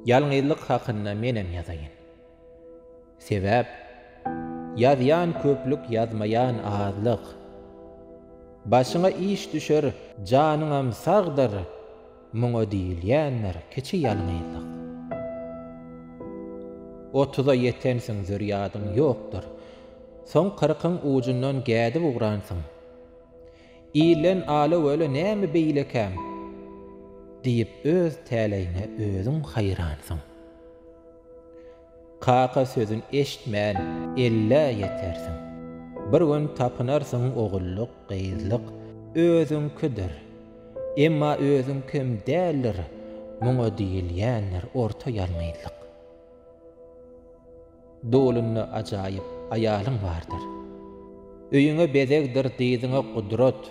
Ýalňyzlyk hakynda menem ýazaýyn. Sebäp, ýazýan köplük ýazmaýan azlyk. Başyňa iş düşer, janyňam sagdyr, muňa diýilýändir kiçi ýalňyzlyk. Otuza ýetensiň zürýadyň ýokdur. Soň kyrkyň ujundan gädip ugransyň. Ilden ala-wele näme beýlekäm? diýip öz täleýiňe özüň haýransyň. Kaka sözün eşitmän ellä ýetersiň. Bir gün tapynarsyň ogulluk, gyzlyk özüňkidir. Emma özüňkem däldir, muňa diýilýändir orta ýalňyzlyk. Dolunda ajaýyp aýalyň bardyr. Öýüňe bezegdir, dyzyňa gudrat.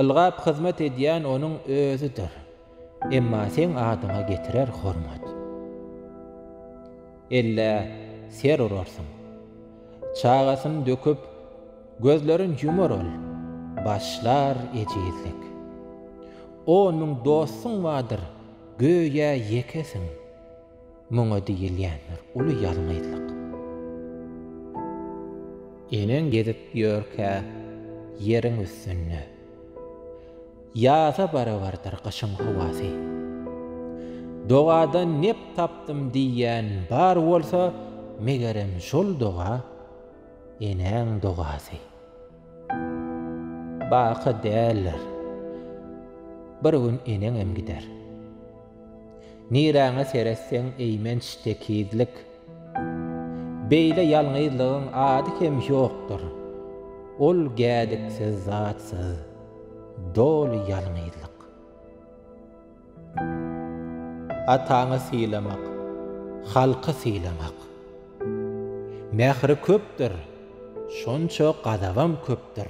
Ylgap hyzmat edýän onuň özüdir. Emma seň adyňa getirer hormat. Ellä ser urarsyň. Çagasyn döküp, gözlerin ýumar ol. Başlar ejizlik. On müň dostuň bardyr, göýä ýekesiň. Muňa diýilýändir uly ýalňyzlyk. Eneň gezip ýörkä ýeriň üstünde. Ýaza barabardyr gyşyň howasy. Dogadan nep tapdym diýýän bar bolsa, megerem şol doga, enäň dogasy. Baky däldir. Bir gün eneňem gider. Niräňe seretseň eýmenç tekizlik. Beýle ýalňyzlygyň ady hem ýokdur. Ol gädiksiz zatsyz, doly ýalňyzlyk. Ataňy sylamak, halky sylamak. Mähri köpdür, şonça gazabam köpdür.